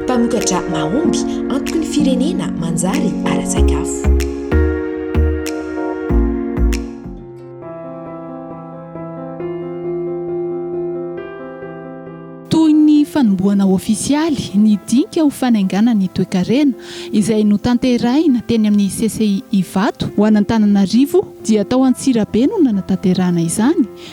Mpamokatra mahomby antoky ny firenena manjary ara-tsakafo. Toy ny fanombohana ofisialy ny dinika ho fanaingana ny toekarena izay notanterahina teny amin'ny CCI Ivato ho an'Antananarivo dia tao Antsirabe no nanatanterahana izany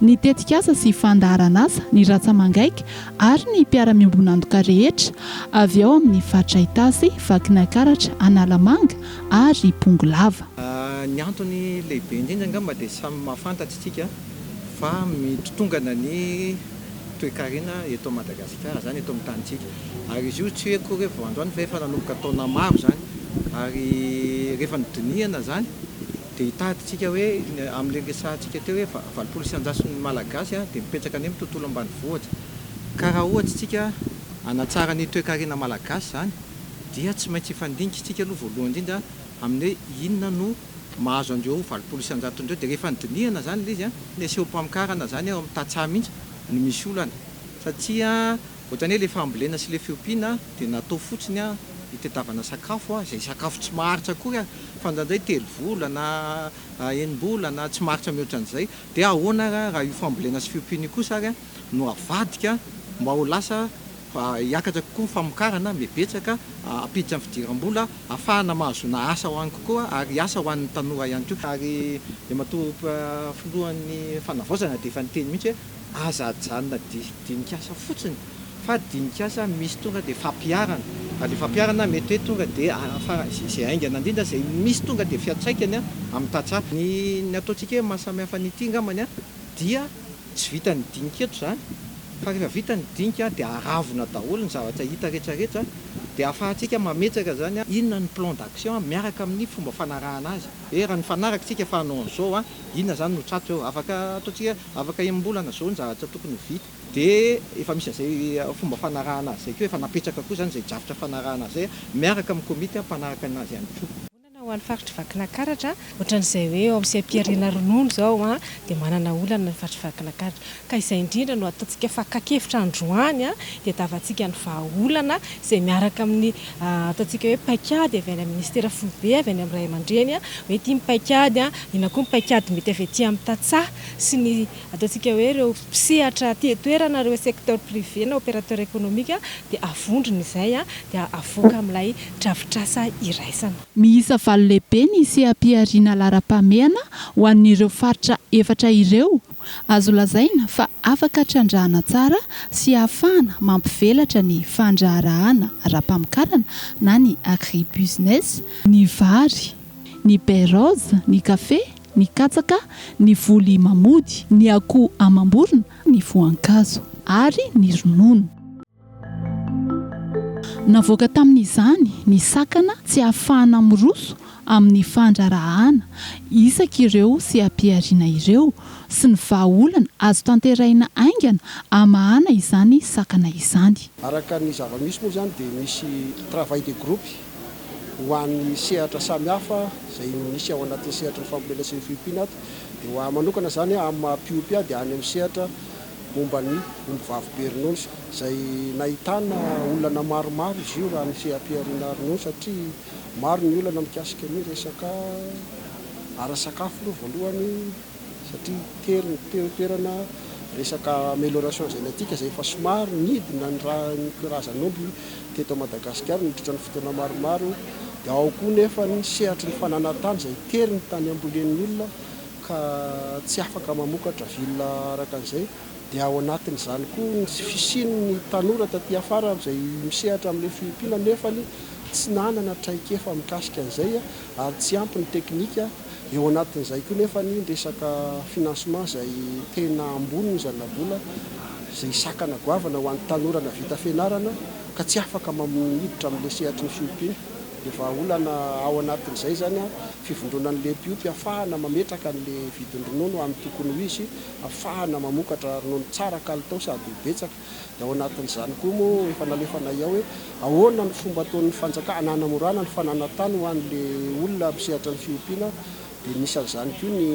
ny tetikasa sy fandaharanasa, ny ratsamangaika ary ny mpiara-miombon'antoka rehetra avy ao amin'ny faritra Itasy, Vakinankaratra, Analamanga ary Bongolava. Ny antony lehibe indrindra angamba dia samy mahafantatra isika fa mitotongana ny toekarena eto Madagasikara izany, eto amin'ny tanintsika. Ary izy io tsy hoe akory hoe vao androany fa efa nanomboka taona maro izany. Ary rehefa nodinihana izany. Dia hitadintsika hoe amin'ilay niresahantsika teo hoe valopolo isan-jaton'ny Malagasy dia mipetraka any amin'ny tontolo ambanivohitra. Ka raha ohatra isika hanatsara ny toekarena Malagasy izany dia tsy maintsy hifandinika isika aloha voalohany indrindra amin'ny hoe inona no mahazo an'ireo valopolo isan-jatony ireo. Dia rehefa nodinihana izany ilay izy, neseho-pamokarana izany ao amin'ny tantsaha mihitsy no misy olana satria. Ohatran'ny hoe ilay fambolena sy ilay fiompiana dia natao fotsiny hitadiavana sakafo, izay sakafo tsy maharitra akory ary, fa indraindray telo volana, enim-bolana, tsy maharitra mihoatra an'izay. Dia ahoana ary raha io fambolena sy fiompiana io kosa ary no avadika mba ho lasa hiakatra kokoa ny famokarana, mibetsaka, hampiditra ny fidiram-bola, ahafahana mahazoana asa ho any kokoa ary asa ho an'ny tanora ihany koa. Ary Iamatoa Filohan'ny Fanavaozana dia efa niteny mihitsy hoe Aza ajanona didinik'asa fotsiny fa dinik'asa misy tonga dia fampiharana fa ilay fampiharana mety hoe tonga dia afara izay haingana indrindra izay misy tonga dia fiantraikany amin'ny tantsaha. Ny ny ataontsika hoe mahasamihafa an'ity angambany dia tsy vitan'ny dinika eto izany fa rehefa vita ny dinika dia aravona daholo ny zavatra hita rehetrarehetra dia ahafahantsika mametraka izany inona ny plan d'action miaraka amin'ny fomba fanarahana azy hoe raha nifanaraka isika fa hanao an'izao inona izany no tratry eo afaka ataontsika Afaka enim-bolana izao ny zavatra tokony ho vita dia efa misy an'izay fomba fanarahana azy izay koa, efa napetraka koa izany izay drafitra fanarahana azy izay miaraka amin'ny komity mpanaraka ny azy ihany koa. Vonona ho an'ny faritr'i Vakinakaratra, ohatran'izay hoe ao amin'ny seha-pihariana ronono izao dia manana olana ny faritr'i Vakinakaratra ka izay indrindra no ataontsika fakan-kevitra androany dia hitavantsika ny vahaolana izay miaraka amin'ny Ataontsika hoe paikady avy any amin'ny minisitera foibe, avy any amin'ny ray aman-dreny hoe ity ny paikady, inona koa ny paikady mety avy aty amin'ny tantsaha sy ny ataontsika hoe ireo mpisehatra aty an-toerana, ireo secteur privé na opérateur économique dia avondrona izay dia avoaka amin'ilay drafitrasa iraisana. Miisa valo lehibe ny seha-pihariana laharam-pahamehana ho an'ireo faritra efatra ireo Azo lazaina fa afaka trandrahana tsara sy ahafahana mampivelatra ny fandraharahana ara-pamokarana na ny agribusiness, ny vary, ny baie rose, ny kafe, ny katsaka, ny voly mamody, ny akoho amam-borona, ny voankazo ary ny ronono. Navoaka tamin'izany ny sakana tsy ahafahana miroso amin'ny fandraharahàna isaky ireo seha-pihariana ireo sy ny vahaolana azo tanterahina haingana hamahana izany sakana izany. Araka ny zava-misy moa izany dia misy travail de groupe ho an'ny sehatra samihafa izay misy ao anatin'ny sehatry ny fambolena sy ny fiompiana ato. Dia ho ahy manokana izany amin'ny maha-mpiompy ahy dia any amin'ny sehatra momba ny ombivavy be rinosa izay nahitana olana maromaro izy io raha ny seha-pihariana ronono satria maro ny olana mikasika ny resaka ara-sakafo aloha voalohany satria tery ny teo toerana resaka amelioration génétique izay efa somary nidina ny raha ny karazan'omby teto Madagasikara nandritra ny fotoana maromaro dia ao koa nefa ny sehatry ny fananantany izay tery ny tany ambolen'ny olona ka tsy afaka mamokatra vilona araka an'izay, dia ao anatin'izany koa ny tsy fisian'ny tanora taty afara izay misehatra amin'ilay fiompiana nefany tsy nanana traikefa mikasika an'izay ary tsy ampy ny teknika, eo anatin'izay koa nefany ny resaka financement izay tena ambony ny zana-bola izay sakana goavana ho an'ny tanora navita fianarana ka tsy afaka miditra amin'ilay sehatry ny fiompiana. Dia vahaolana ao anatin'izay izany an, fivondronan'ny lempiompy afahana mametraka an'ilay vidin-dronono amin'ny tokony ho izy, afahana mamokatra ronono tsara kalitao sady ho betsaka. Dia ao anatin'izany koa moa efa nalefanay ao hoe ahoana ny fomba ataon'ny fanjakana hanamorana ny fananan-tany ho an'ilay olona mpisehatra ny fiompiana. Dia anisan'izany koa ny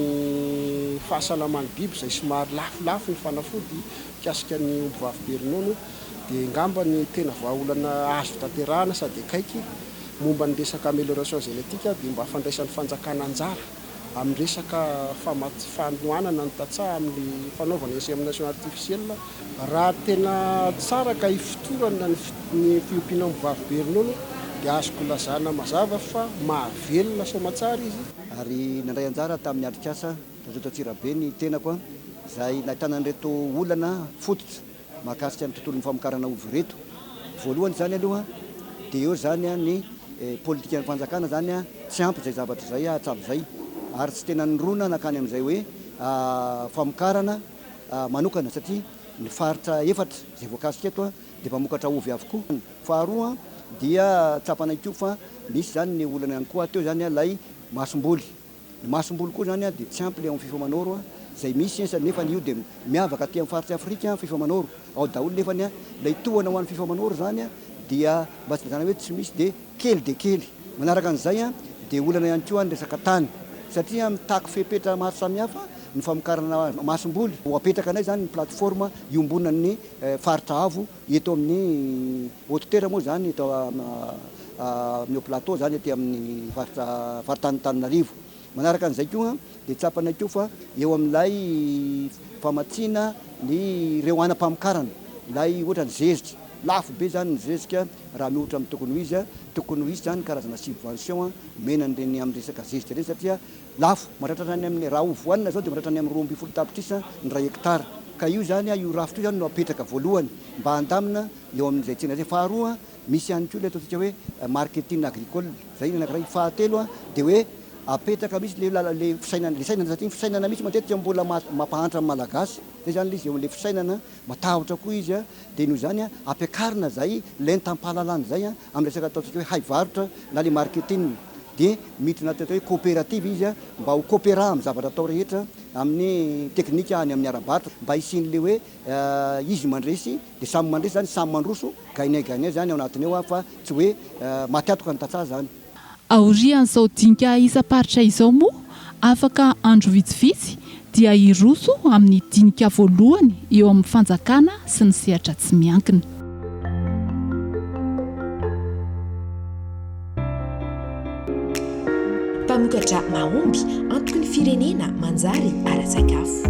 fahasalaman'ny biby izay somary lafolafo ny fanafody mikasika ny ombivavy be ronono. dia angamba ny tena vahaolana azo tanterahana sady akaiky momba ny resaka amélioration génétique dia mba fandraisan'ny fanjakana anjara amin'ny resaka fanohanana ny tantsaha amin'ny fanaovana insémination artificielle raha tena tsara ka ifotorana ny fiompiana ombivavy be ronono dia azoko lazana mazava fa mahavelona soamatsara izy ary nandray anjara tamin'ny atrikasa Rajoelina Antsirabe ny tenako izay nahitana an'ireto olana fototra. mahakasika ny tontolon'ny famokarana ovy ireto. Voalohany izany aloha dia eo izany ny politikan'ny fanjakana izany tsy ampy izay zavatra izay hatramin'izay ary tsy tena nirona nankany amin'izay hoe famokarana manokana satria ny faritra efatra izay voakasika eto dia mpamokatra ovy avokoa. Faharoa dia tsapana ihany koa fa misy izany ny olana ihany koa teo izany ilay masomboly Ny masomboly koa izany dia tsy ampy le ao amin'ny fifa manoro izay misy esa nefa io dia miavaka aty amin'ny faritry afrika fifa manoro ao daholo nefa ny ilay tohana ho an'ny fifa manoro izany dia mba tsy zany hoe tsy misy dia kely dia kely manaraka an'izay dia olana ihany koa ny resaka tany satria mitaky fepetra maro samihafa ny famokarana masomboly ho apetrakanay izany ny plateforme iombonan'ny faritra avo Eto amin'ny Haute-Terre moa izany, eto amin'ny Haut Plateau izany, aty amin'ny faritra faritanin'Antananarivo. Manaraka an'izay koa dia tsapanay koa fa eo amin'ilay famatsiana ny ireo anam-pamokarana, ilay ohatra ny zezika, lafo be izany ny zezika raha miohitra amin'ny tokony ho izy, tokony ho hisy izany karazana subvention omena an'ireny amin'ny resaka zezika ireny satria Lafo, mahatratra hatrany amin'ny, raha ho voanina izao dia mahatratra any amin'ny roa ambin'ny folo tapitrisa ny iray hektara. Ka io izany, io rafitra io izany no apetraka voalohany mba handamina eo amin'izay tsena izay. Faharoa, misy ihany koa ilay ataontsika hoe marketing agricole, izay ny anankiray. Fahatelo dia hoe apetraka mihitsy ilay lala, ilay fisainana, ilay sainana, satria ny fisainana mihitsy matetika mbola mampahantra ny Malagasy. Izay izany ilay izy, eo amin'ilay fisainana, matahotra koa izy. dia noho izany ampiakarina izay lentam-pahalalana izay amin'ny resaka ataontsika hoe haivarotra na ilay marketing dia miditra anaty atao hoe coopérative izy mba ho coopéra amin'ny zavatra atao rehetra amin'ny teknika any amin'ny ara-barotra mba hisian'ilay hoe izy mandresy dia samy mandresy izany samy mandroso gagne gagne izany ao anatiny ao fa tsy hoe maty antoka ny tantsaha izany. Aorian'izao dinika isam-paritra izao moa, afaka andro vitsivitsy dia hiroso amin'ny dinika voalohany eo amin'ny fanjakana sy ny sehatra tsy miankina. Mpamokatra mahomby antoky ny firenena manjary ara-tsakafo.